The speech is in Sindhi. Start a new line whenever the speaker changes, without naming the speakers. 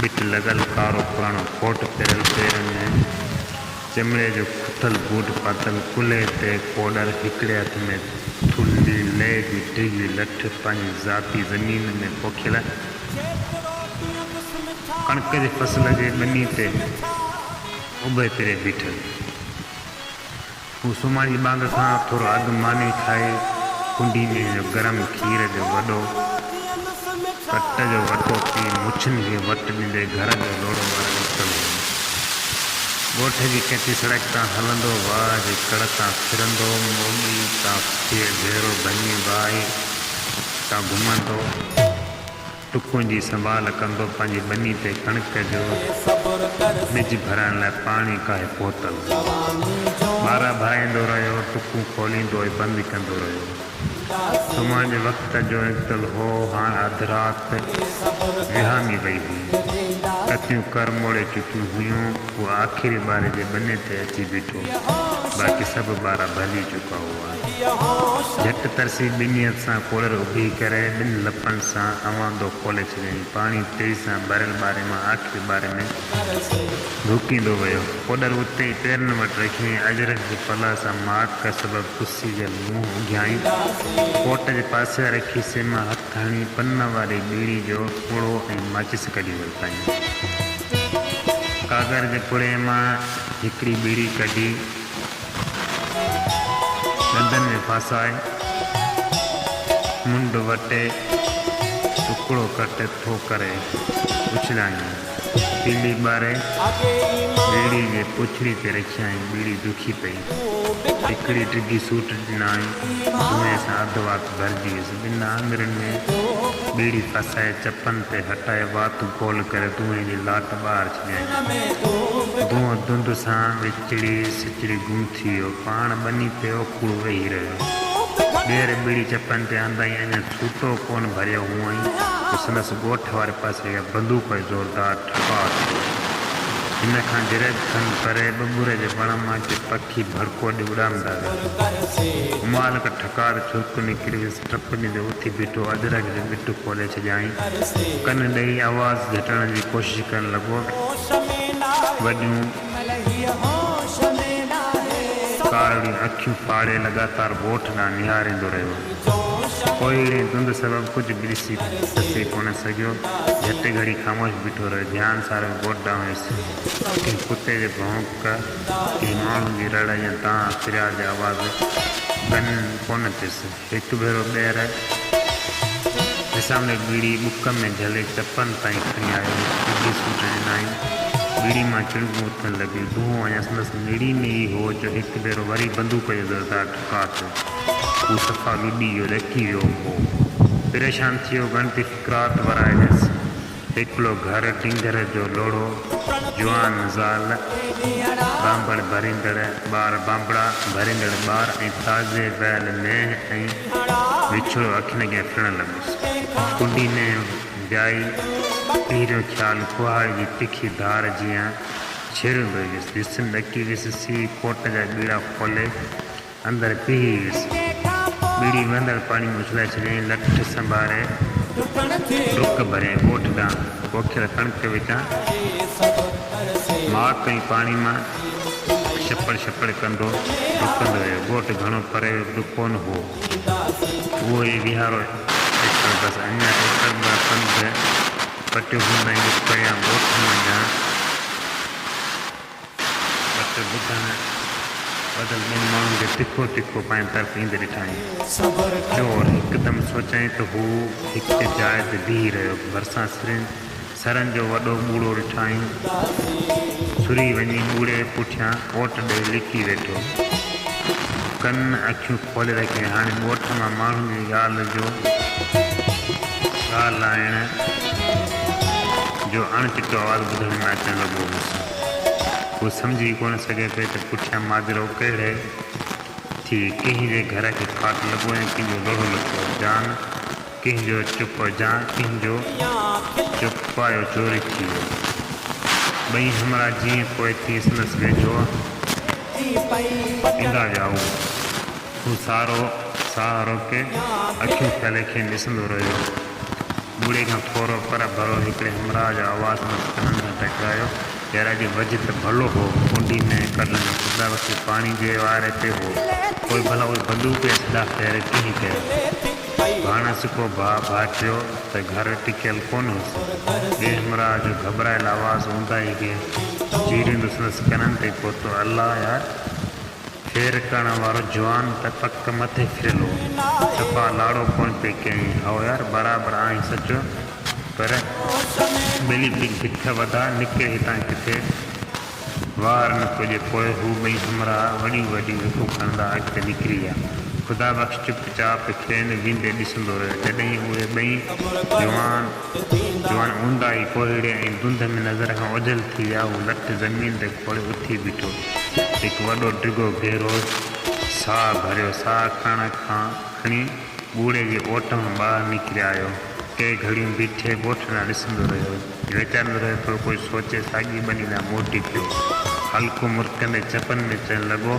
ٻٽ لڳل ڪارو پراڻو ڪوٽ پھريل پيرن ۾ چمڙي جو کٿل بوٽ پاتل ڪلھي تي ڪوڏر ھڪڙي ھٿ ۾ ٿلھي لئي جي ڊگھي لٺ پنھنجي ذاتي زمين ۾ پوکيل ڪڻڪ جي فصل جي ٻني تي اڀي تري بيٺل. هو سمهاڙي ٻانگ کان ٿورو اڳ ماني کائي ڪنڊي ۾ جو گرم کير جو وڏو ڪٽ جو وٽو پي مڇن کي وٽ ڏيندي گهر جو لوڙهو ٻارڻ نڪتل هو. ڳوٺ جي ڪچي سڙڪ تان هلندو واهه جي ڪڙ تان ڦرندو موڳي تان ڦير ڀيرو ڀڃي واهي تان گهمندو. ٽڪون جي سنڀال ڪندو پنهنجي ٻني تي ڪڻڪ جو ٻج ڀرڻ لاء پاڻي ڪاهي پهتل هو. ٻارا ڀرائيندو رهيو، ٽڪون کوليندو ۽ بند ڪندو رهيو. سمهڻ جي وقت جو نڪتل هو، هاڻ اڌ رات وهامي وئي هئي. ڪتيون ڪر موڙي چڪيون هيون، هو آخري ٻاري جي ٻني تي اچي بيٺو، باقي سڀ ٻارا ڀرجي چڪا هئا. جهٽ ترسي ٻنهي هٿ سان ڪولر اڀي ڪري ٻن لپن سان اواندو کولي ڇڏيائين. پاڻي تيزي سان ٻريل ٻاري مان آخري ٻاري ۾ ڌوڪيندو ويو. ڪولر اتي ئي پيرن وٽ رکيائين. اجرڪ جي پلا سان ماڪ ڪ سبب پسيجل منهن اگهيائين. ڪوٽ جي پاسي واري کيسي مان هٿ هڻي پن واري ٻيڙي جو پڙو ۽ ماچس ڪڍي ورتائين. ڪاڳر جي پڙي مان هڪڙي ٻيڙي ڪڍي. ڏندن ۾ ڦاسائي منڍ وٽي ٽڪڙو ڪٽ ٿو ڪري اڇلايائين تيلي ٻاري ٻيڙي جي پڇڙي تي رکيائين ٻيڙي دکي پئي هڪڙي ڊگهي سوٽ ڏنائين جوئين سان اڌ وات ڀرجي ويس ٻن آڱرين ۾ ٻيڙي ڦاسائي چپن تي هٽائي وات گول ڪري دونهين جي لاٽ ٻاهر ڇڏيائين دونهن دند سان سچڙي سچڙي گم ٿي ويو. پاڻ ٻني تي اوکوڙو ويهي رهيو. ٻير ٻيڙي چپن تي آندائين اڃا ڇوٽو ڪونه ڀريو هئائين جو سندس ڳوٺ واري پاسي اها بندوق جو زوردار ٺڪاء ٿيو. هن کان جريب کن پري ٻٻر جي وڻ مان ڪي پکي ڀڙڪو ڏئي اڏامندا ويا. همال کان ٺڪاء تي ڇرڪ نڪري ويس. ٽپني تي اٿي بيٺو ادرڪ جي ٻٽ کولي ڇڏيائين. ڪن ڏئي آواز جهٽڻ جي ڪوشش ڪرڻ لڳو. وڏيون. ڪارڙيون اکيون ڦاڙي لڳاتار ڳوٺ ڏانهن نهاريندو رهيو. ڪوهيڙي ڌنڌ سبب ڪجهه به ڏسي سسي ڪونه سگهيو. جهٽ گهڙي خاموش بيٺو رهيو. ڌيان ساريو ڳوٺ ڏانهن ويس. ڪنهن ڪتي جي ڀونڪ، ڪنهن ماڻهن جي رڙ يا دانهن، فرياد جا آواز ڪنن ڪونه ٿيس. هڪ ڀيرو ٻيهر وسامي ٻيڙي ٻڪ ۾ جهلي چپن تائين کڻي آيو. سڌي سوٽ ڏنائين. ٻيڙي مان چڻگون اٿڻ لڳيون. دونهون اڃا سندس نڙي ۾ ئي هو جو هڪ ڀيرو وري بندوق جو زوردار ٽڪاء ٿيو. هو صفا لڏي ويو، ڏڪي ويو هو. پريشان ٿي ويو، ڳڻتي فقرات ورائي ويس. هڪڙو گهر ڊينگر جو لوڙهو، جوان زال، ٻانڀڻ ڀريندڙ ٻار، ٻانڀڙا ڀريندڙ ٻار ۽ تازي وهيل مينهن ۽ وڇڙو اکين اڳيان ڦرڻ لڳس. ڪنڊي مينهن ويائي، اهڙو خيال ڪهاڙي جي تکي ڌار جيان ڇيڙيندو ويس. جسم ڏڪي ويس، سيء ڪوٽ جا ٻيڙا کولي، اندر پيهي ويس. ٻيڙي وهندڙ پاڻي ۾ اڇلائي ڇڏيائين. لٺ سنڀاري ڊڪ ڀريائين ڳوٺ ڏانهن. پوکيل ڪڻڪ وچان ماڪ ۽ پاڻي مان ڇپڙ ڇپڙ ڪندو ڊڪندو ويو. ڳوٺ گهڻو پري به ڪونه هئو. اهو ئي ويهارو ايڪڙ بس اڃا ايڪڙ ٻه کن به پٽيو هوندائين جو پريان ڳوٺ منجهان. وٽ ٻڌڻ بدل ٻن ماڻهن کي تکو تکو پنهنجي طرف ايندي ڏٺائين. چور هڪدم سوچيائين ته هو هڪ جاء تي بيهي رهيو. ڀرسان سرين سرن جو وڏو ٻوڙو ڏٺائين. سري وڃي ٻوڙي پٺيان اوٽ ڏئي لڪي ويٺو. ڪن اکيون کولي رکيائين. هاڻي ڳوٺ مان ماڻهن جي ڳالهه جو ڳالهائڻ جو اڻ چٽو آواز ٻڌڻ ۾ اچڻ لڳو هوس. هو سمجهي ڪونه سگهي پئي ته پٺيان ماجرو ڪهڙي ٿي، ڪنهن جي گهر کي ڦاٽ لڳو ۽ ڪنهن جو لوڙهو لٿو، جان ڪنهن جو چپ جا ڪنهن جو چپ پايو چوري ٿي ويو. ٻئي همراهه جيئن پوء تيئن سندس ويجهو ايندا ويا هو. هو سارو ساهه روڪي اکيون ڦيلي کين ڏسندو رهيو. ٻوڙي کان ٿورو پرهه ڀرو هڪڙي همراهه جو آواز مس ڪنن سان ٽڪرايو، يار اڄ وجهه ته ڀلو هو، ڪنڊي ۾ هڪڙ لنگهه ڦرندا وقت پاڻي جي واري تي هو، پوء ڀلا اهي بندوق يا سڌا فير ڪنهن ڪيا؟ ڀاڻ سڪو ڀاء ڀاٽيو ته گهر ٽڪيل ڪونه هوس. ٻئي همراهه جو گهٻرايل آواز اونداهي کي جهيڙيندو سندس ڪنن تي پهتو، الله يار! خير ڪرڻ وارو جوان ته پڪ مٿي ڦريل هو. صفا لاڙو ڪونه پئي ڪيائين. هائو يار، برابر آهين سچو، پر ٻلي ڪجهه بک وڌاء، نڪر هتان ڪٿي وار نه ٿو ڏي. پوء هو ٻئي همراهه وڏيون وڏيون هڪون کڻندا اڳتي نڪري ويا. خدا بخش چپ چاپ کين ويندي ڏسندو رهيو. جڏهين اهي ٻئي جوان. جوان اونداهي ڪوهيڙي ۽ دنڌ ۾ نظر کان اوجهل ٿي ويا. هو لٺ زمين تي کوڙي اٿي بيٺو. هڪ وڏو ڊگهو گهرو ساهه ڀريو. ساهه کڻڻ کان کڻي ٻوڙي جي اوٽ مان ٻاهر نڪري آيو. ڪي گهڙيون بيٺي ڳوٺ ڏانهن ڏسندو رهيو. ويچارندو رهيو ٿورو ڪجهه سوچي ساڳي ٻني ڏانهن موٽي پيو. هلڪو مرڪندي چپن ۾ چئڻ لڳو.